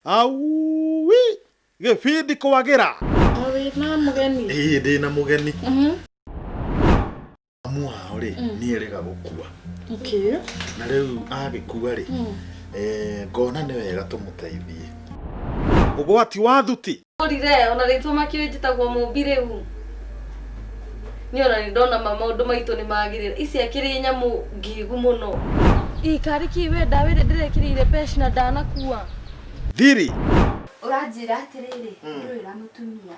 Auwi! Gĩbindi kwagĩra! Wĩ na mũgeni? Ĩĩ ndĩ na mũgeni. Mhm. Amu wao rĩ, mm. niĩ rĩga gũkua. Okay. Na rĩu agĩkua rĩ, mm. eh, ngona nĩ wega tũmũteithie. Ũgwati wa thuti Ndũrire ona rĩtwa makĩũĩ njĩtagwo mũmbi rĩu. Niĩ ona nĩ ndona ma maũndũ maitũ nĩ magĩrĩra. Ici akĩrĩ nyamũ ngingu mũno. Ii kariki we ndawa ĩrĩa ndĩrekĩrĩire pec na ndanakua. Thiri. Ũranjĩra atĩrĩrĩ ndũrĩ na mũtumia.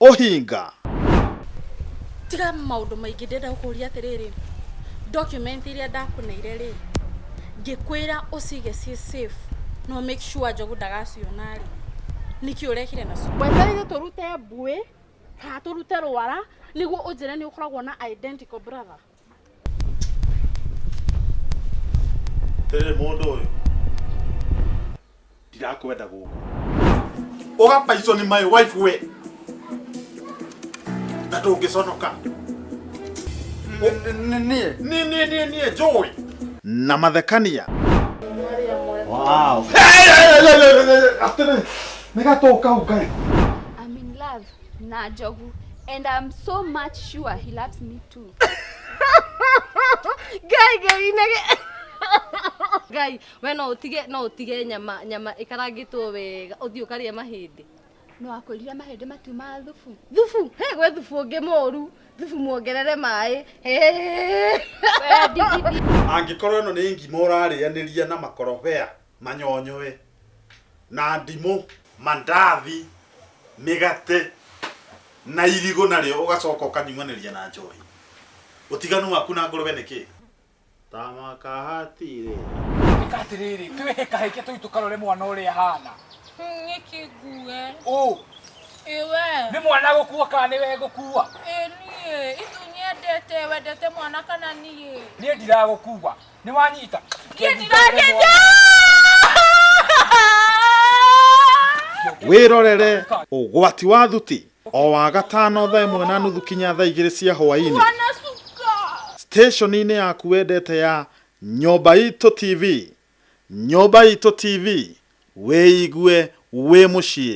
ũhinga tiga maũndũ maingĩ ndĩrenda gũkũria atĩrĩrĩ document iria ndakũneire rĩ ngĩkwĩra ũcige ciĩ safe no make sure njogu ndagaciona rĩ nĩkĩ ũrekire nacio wetereire tũrute mbuĩ kana tũrute rwara nĩguo ũnjĩre nĩ ũkoragwo na identical brother Tere mũndũ ũyũ ndirakwenda gũkũ ũgapaicwo nĩ my wife we na ndũngĩconoka niĩ niĩ niĩ niĩ niĩ njũĩ na mathekania wow. Atene, nä gatå kau ngai I'm in love. na njogu and I'm so much sure he loves me too. Ngai ngai nage. Ngai, we no utige no utige nyama nyama ikarangitwo wega uthii ukaria mahindi. No akwĩrire mahĩndĩ matiuma thubu. Thubu, he gwe thubu ũngĩ mũru. Thubu muongerere maĩ. Angĩkorwo ĩno nĩ ngima ũrarĩanĩria na makorobea manyonyoe, na ndimũ, mandathi, mĩgate, na irigũ narĩo ũgacoka ũkanyuanĩria na njohi. Ũtiganu waku na ngũrũwe nĩ kĩĩ? Ta makahatire. Ĩka atĩrĩrĩ, twĩhe kahĩke tũu tũkarore mwana ũrĩa ahana. Nĩkĩ ngue? Ũ, Ĩ we? nĩ mwana gũkua kana nĩ we ngũkua? Ĩ niĩ? Itu nyendete, wendete mwana kana niĩ? Niĩ ndiragũkua. nĩ wanyita wĩrorere ũgwati wa thuti o wa gatano thaa ĩmwe na nuthu kinya thaa igĩrĩ cia hwaĩ-inĩ steshoni-inĩ yaku wendete ya nyũmba itũ tv nyũmba itũ tv wĩigue wĩ mũciĩ